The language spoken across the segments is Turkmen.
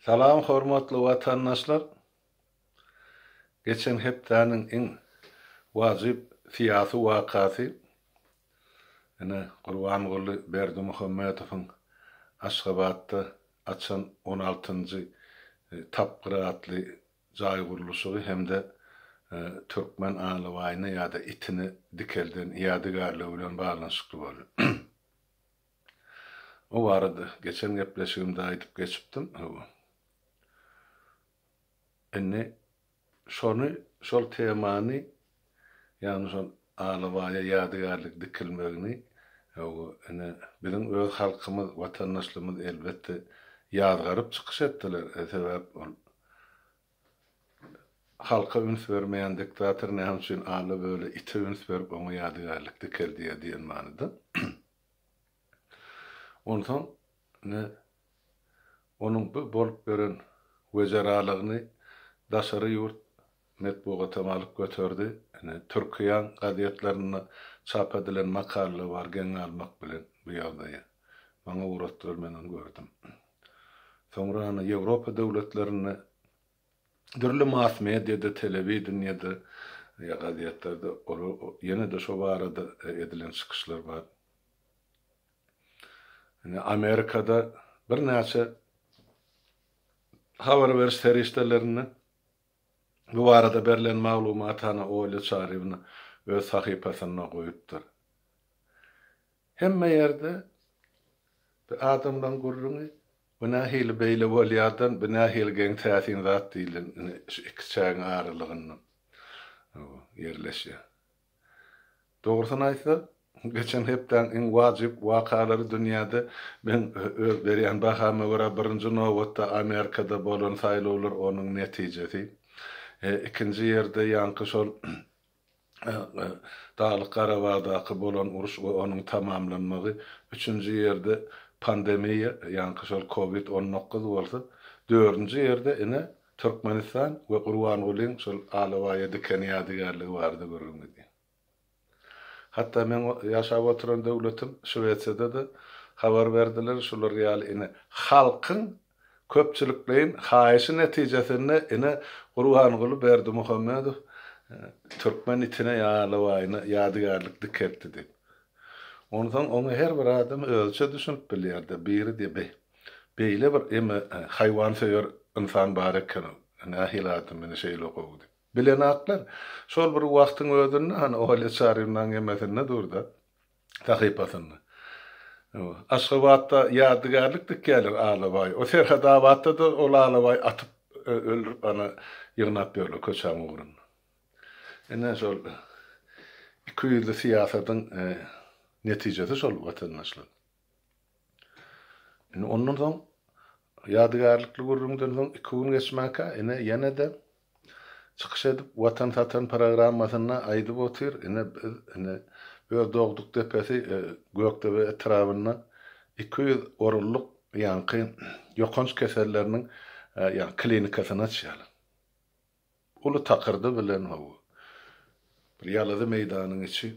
Salam hormatly watandaşlar! Geçen hepdäniň iň wajyp syýasy wakasy, ine, Gurbanguly Berdimuhamedowyň Aşgabatda açan on altynjy tapgyry atly jaý gurluşygy hem-de türkmen alabaýyny ýa-da itini dikelden ýadygärligi bilen baglanyşykly boldy. O barada geçen gepleşigimde aýdyp geçipdim, hawa. Indi şony, şol temany, ýagny şol alabaýa ýadygärlik dikilmegini, hawa, ine, biziň öz halkymyz, watandaşlarymyz, elbetde, ýazgaryp çykyş etdiler. Sebäp ol halka üns bermeýän diktator näme üçin ala-böle ite üns berip, oňa ýadygärlik dikeldýär diýen manyda. Onsoň ine, onuň bu bolup ýören wezeralygyny daşary ýurt metbugatam alyp göterdi. Ine, Türkiýäň gazetlerinde çap edilen makala bar geň almak bilen bu ýagdaýy. Maňa ugratdylar, men ony gördüm. Soňra ine, Ýewropa döwletlerinde Dürli mass-mediýada, telewideniýede, ýa gazetlerde ol ýene-de şo barada edilen çykyşlar bar. Indi Amerikada birnäçe habar beriş serişdelerinde bu barada berlen maglumaty hany Olýa Çarýewna öz sahypasynda goýupdyr. Hemme ýerde bir adamlaň gürrüňi, Bu nähili beýle bolýardan, bu nähili geň täsin zat diýlen ine şu iki çägiň aralygynda ýerleşýär. Dogrusyny aýtsak, geçen hepdäň iň wajyp wakalary dünýäde men öz berýän bahama görä birinji nobatda Amerikada bolan saýlawlar onuň netijesi. Ikinji ýerde ýaňky şol Daglyk Garabagdaky bolan uruş we onuň tamamlanmagy, üçünji ýerde pandemiýa, ýaňky şol covid on dokuz bolsa, dördünji ýerde ine Türkmenistan we Gurbangulyň şol alabaýa diken ýadygärligi barada gürrüň gidýär. Hatda meň ýaşap oturan döwletim Şwesiýada-da habar berdiler, şular ýaly ine halkyň Köpçülikleýin haýyşy netijesinde ene Gurbanguly Berdimuhamedow türkmen itine ýa alabaýyna ýadygärlik dikeltdi diýip. Onsoň oňa her bir adam özüçe düşünip bilýär-de, biri diýýär, Beý, beýle bir eme haýwansöýer ynsan bar eken-ow, nähili adam meni şeýle gowy diýip. Bilenaklar, şol bir wagtyň özünde, hany, Olýa Çarynaň emesinde dur-da. sahypasynda. Aşgabatda ýadygärlik dikýärler alabaý. O Serhetabatda-da ol alabaý atyp öldürip ana ýygnap ýörler köçäň ugrunda. Ine şol iki ýüzli syýasatyň netijesi şol watandaşlar. Indi ondan soň Ýadygärlikli gürrüňden soň iki gün geçmänkä ine ýene-de çykyş edip Watan satan programmasynda aýdyp otyr, ine biz ine öz dogduk depesi Gökdebe etrabynda iki ýüz orunlyk ýaňky ýokanç keselleriniň ýa klinikasyny açýarlar. Uly takyrdy bilen hawa, bir ýalazy meýdanyň içi.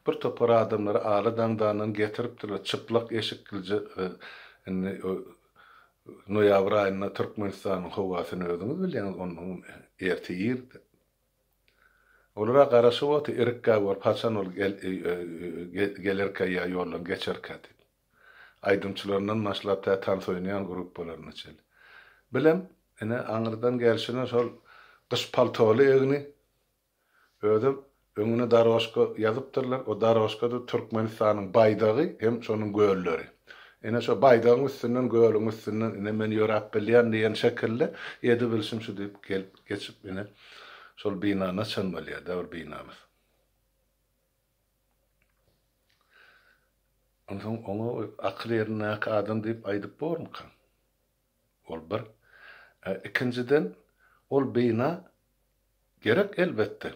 Bir topar adamlary Aly daňdandan getiripdirler, çyplak eşiklice we indi noýabr aýynda Türkmenistanyň howasyny özüňiz bilýäňiz, onnoňam ertir irde. Olara garaşyp otyr, irikgäk bolup, haçan ol gelerkä ýa ýoldan geçerkä diýip. Aýdymçylaryndan başlap tä tans oýnaýan gruppalaryna çeli. Bilem, ine, aňyrdan gelşine şol gyş paltoly egni, özem öňüne dorožka ýazypdyrlar, o dorožkada Türkmenistanyň baýdagy hem şonuň gölleri. Ine, şo baýdagyň üstünden, gölüň üstünden, ine, men ýöräp bilýän diýen şekilli, edebilişim şu diýip gelip geçip, ine, şol binana çenli bolýar-da bir binamyz. Onsoň oňa akyl ýerindäki adam diýip aýdyp bormyka? Ol bir. Ikinjiden, ol bina gerek elbetde.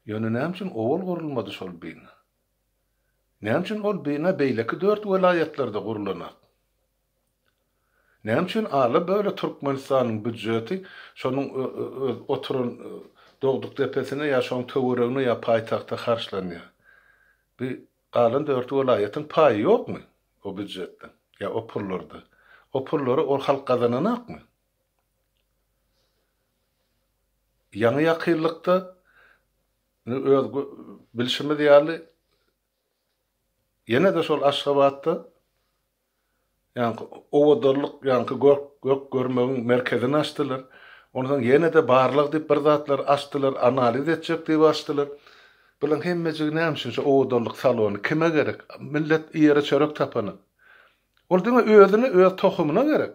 Ýöne näme üçin owal gurulmady şol bina? Näme üçin ol bina beýleki dört welaýatlarda gurlanok? Näme üçin ala böle Türkmenistanyň býudjeti şonuň öz oturan Dogdukdepesine ýa şoň töweregine ýa paýtagta harçlanýar? Bi galan dört welaýatyň paýy ýokmy o býudjetden ýa o pullarda? O pullary ol halk gazananakmy? Ýaňy ýakynlykda indi öz bilşimiz ýaly ýene-de şol Aşgabatda Ýaňky owadarlyk, ýaňky gök, gök görmegiň merkezini açdylar. Ondan soň ýene-de barlag diýip bir zatlar açdylar, analiz etjek diýip açdylar. Bularyň hemmejigi näme üçin şu owadarlyk salony kime gerek? Millet iýere çörek tapany. Ol diňe özüne, öz tohumyna gerek.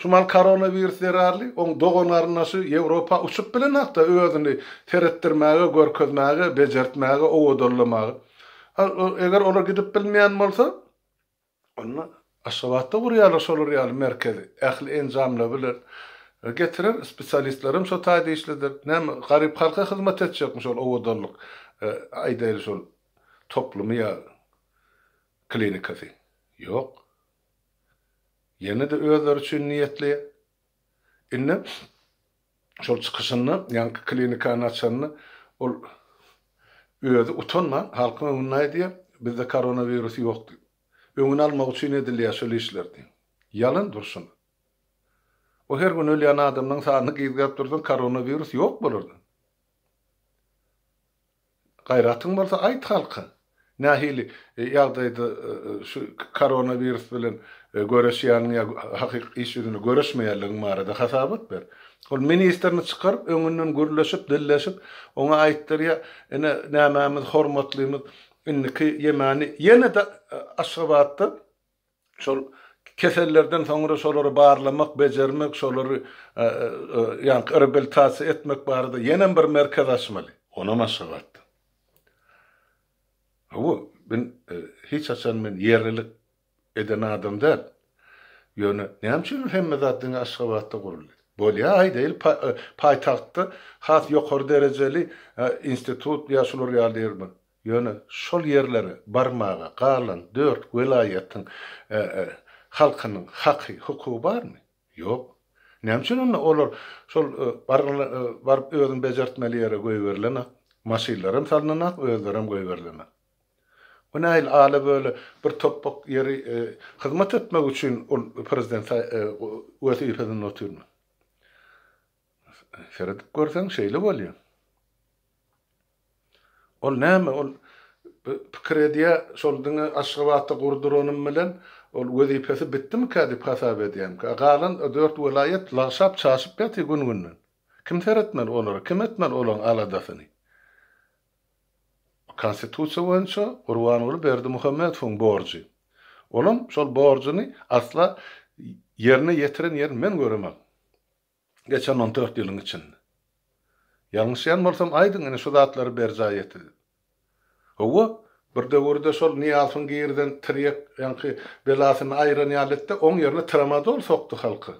Şumal koronawirus zerarly oň dogan-garyndaşy Ýewropa uçup bilenokda özüni seretdirmäge, görkezmäge, bejertmäge, owadallamaga. Eger olar gidip bilmeýän bolsa, onda Aşgabatda gurýarlar şolar ýaly merkezi. Ähli enjamlar bilen getirer, spesialistlerem şo taýda işleder. Näme, garyp halka hyzmat etjekmi şol owadallyk, aýdaýly şol toplumy ýa klinikasy? Ýok. Ýene-de özleri üçin niýetli. Indi şol çykyşynda, ýaňky klinikany açanda ol özi utanman halkyň öňünde aýdýar, Bizde koronawirus ýok diýip. Öňüni almak üçin edilýär şol işler diýip. Ýalan durşuna. O her gün ölýän adamlaryň sanyny gizgäp dursaň koronawirus ýok bolardy. Gaýratyň bolsa aýt halka, nähili ýagdaýda şu koronawirus bilen göreşýäniň ýa hakyky iş ýüzünde göreşmeýänligiň barada hasabat ber. Ol ministrini çykaryp, öňünden gürleşip, dilleşip, oňa aýtdyr ýa ine nämämiz hormatlymyz indiki ýemani ýene-de Aşgabatda Şol kesellerden soňra şolary barlamak, bejermek, şolary ýaňky reabilitasiýa etmek barada ýenem bir merkez açmaly. Onam Aşgabatdan. Hawa, men hiç haçan men ýerlilik eden adam däl. Ýöne näme üçin hemme zat diňe Aşgabatda guruldy? Bolýa, aýdaýyl, paýtagtda has ýokary derejeli institut ýa şular ýaly ýer bar. Ýöne şol ýerlere barmaga galan dört welaýatyň halkynyň haky, hukugy barmy? Ýok. Näme üçin onda olar şol baryp özüni bejertmeli ýere goýberilenak? Maşynlaram salnanak, özlerem goýberilenak. Bu nähili ala-böle bir topbak ýeri hyzmat etmek üçin ol prezident wezipesinde otyrmy? Seredip görseň şeýle bolýa. Ol näme ol pikir edýä şol diňe Aşgabatda gurduranym bilen ol wezipesi bitdimikä dip hasap edýämkä galan o dört welaýat lagşap çaşyp ýaty gün günden. Kim seretmeli olara kim etmeli olaň aladasyny. Konstitusiýa boýunça Gurbanguly Berdimuhamedowyň borjy. Olam şol borjuny asla ýerine ýetiren ýerini men göremok. Geçen on dört ýylyň içinde. Ýalňyşýan bolsam aýdyň ine şu zatlary berjaý ete diýip. Howwa, bir döwürde şol Nyýazowyň girden tirýek ýaňky belasyny aýran ýaly etdi, oň ýerine tramadol sokdy halka.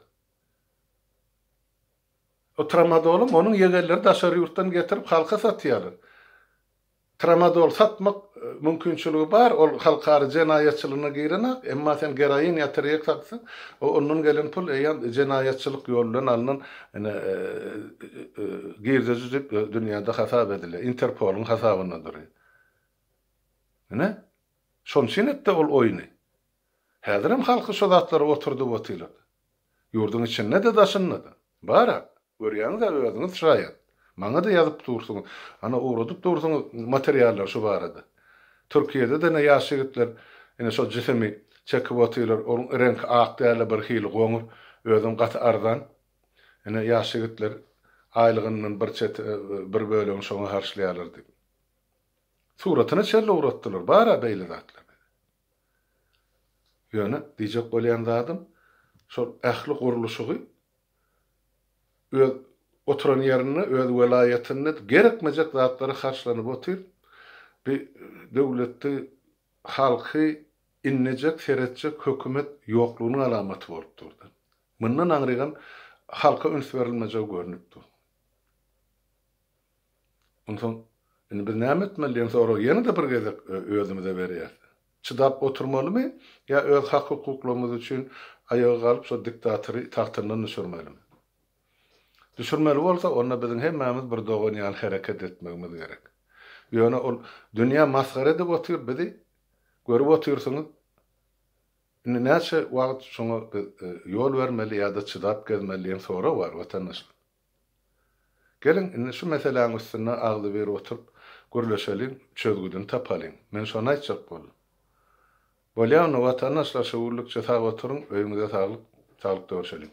O tramadolym onuň ýegenleri daşary ýurtdan getirip halka satýarlar. Tramadol satmak mümkinçiligi bar, ol halkara jenaýatçylygyna girenak, emma sen geroin ýa tirýek satsaň, o ondan gelen pul eýýäm jenaýatçylyk ýol bilen alnan ene girdeji diýip dünýäde hasap edilýär, Interpoluň hasabynda dury. Ene, şonçyn etdi ol oýny. Häzirem halky şo zatlara oturdyp otylar. Ýurduň içinde-de, daşynda-da. Bar-a. Görýäňiz-ä özüňiz şaýat. Maňa-da ýazyp dursuňyz. Ana, ugradyp dursuňyz materiallary şu barada. Türkiýede-de ine ýaş ýigitler ine şol jisimi çekip otyrlar. Onuň reňki ak däl-de, birhili goňur. Özem gaty arzan. Ine, ýaş ýigitler aýlygyndan bir çet, bir bölegini şoňa harçlaýarlar diýip. Suratyny şeýle ugratdylar. Bar-a beýle zatlar. Ýöne diýjek bolýan zadym, şol ähli gurluşygy öz oturan ýerinde, öz welaýatynda gerekmejek zatlara harçlanyp otyr. Bi döwletde halky inlejek, seretjek hökümet ýoklugynyň alamaty bolup dur-da. Mundan aňrygam halka üns berilmejegi görnüp dur. Onsoň, indi biz näme etmeli diýen soragy ýene-de bir gezek özümize berýäs. Çydap oturmalymy ýa öz hak-hukuklarymyz üçin aýaga galyp şo diktatory tagtyndan düşürmelimi? Düşürmeli bolsa, onda biziň hemmämiz bir dogan ýaly hereket etmegimiz gerek. Ýöne ol dünýä masgara edip otyr bizi. Görüp otyrsyňyz. Indi näçe wagt şoňa biz ýol bermeli ýa-da çydap gezmeli diýen sorag bar, watandaşlar. Geliň, indi şu meseläň üstünde agzybir oturyp gürleşeliň, çözgüdini tapalyň. Men şony aýtjak boldum. Bolýa onda, watandaşlar, şöwürlikçe sag oturyň, öýüňize saglyk, saglyk dörşeliň.